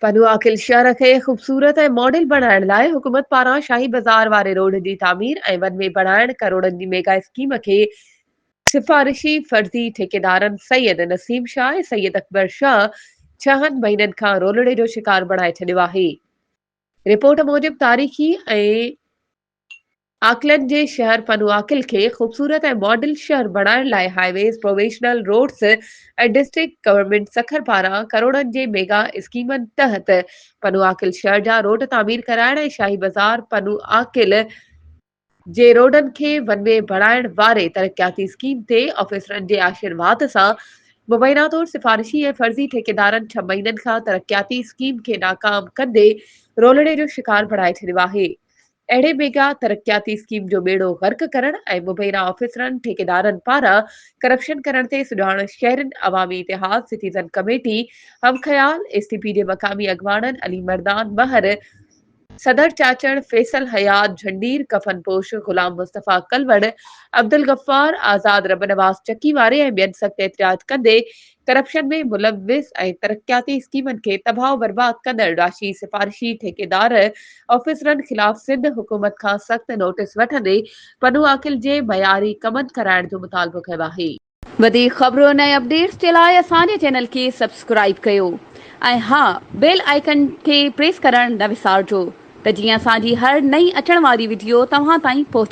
پنهواخل شهر کي خوبصورت ۽ ماڊل بڻائڻ لاء حڪومت پاران شاهي بازار واري روڊ جي تعمير ۽ ون وي بڻائڻ ڪروڙن جي ميگا اسڪيم کي سفارشي فرضي ٺيڪيدارن سيد نسيم شاهه ۽ سيد اڪبر شاهه ڇهن مهينن کان رولڙي جو شڪار بڻائي ڇڏيو آهي. رپورٽ موجب تاريخي ۽ آڪلنڊ جي شهر پنوآڪل کي خوبصورت ۽ ماڊل شهر بڻائڻ لاء highways, provincial roads ۽ district government Sukkur پاران ڪروڙن جي ميگا اسڪيمن تحت پنوآڪل شهر جا روڊ تعمير ڪرائڻ ۽ شاهي بازار پنوآڪل جي روڊن کي ون وي بڻائڻ واري ترقياتي اسڪيم تي آفيسرن جي آشيرواد سان مبينا طور سفارشي ۽ فرضي ٺيڪيدارن ڇهه مهينن کان ترقياتي اسڪيم کي ناڪام ڪندي رولڙي جو شڪار بڻائي ڇڏيو آهي اهڙي ميگا ترقياتي اسڪيم جو ٻيڙو غرق ڪرڻ ۽ مبينا آفيسرن، ٺيڪيدارن پاران ڪرپشن ڪرڻ تي سجاڻ شهرين عوامي اتحاد، سٽيزن ڪميٽي، هم خيال، ايس ٽي پي جي مقامي اڳواڻن علي مردان مهر، صدر چاچڙ، فيصل حيات جهنڊير، ڪفن پوش غلام مصطفيٰ ڪلوڙ، عبدالغفار، آزاد ربنواز چڪي واري ۽ ٻين سخت احتجاج ڪندي ڪرپشن ۾ ملوث ۽ ترقياتي اسڪيمن کي تباهه و برباد ڪندڙ راشي سفارشي ٺيڪيدار آفيسرن خلاف سنڌ حڪومت کان سخت نوٽيس وٺندي پنو عاقل جي معياري ڪمن ڪرائڻ جو مطالبو ڪيو آهي. وڌيڪ خبرن ۽ اپڊيٽس جي لاء اسان جي چينل کي سبسڪرائيب ڪيو ۽ ها بيل آئيڪن کي پريس ڪرڻ نه وسارجو ته جيئن اسان جي هر نئين اچڻ واري وڊيو توهان تائين پهچي.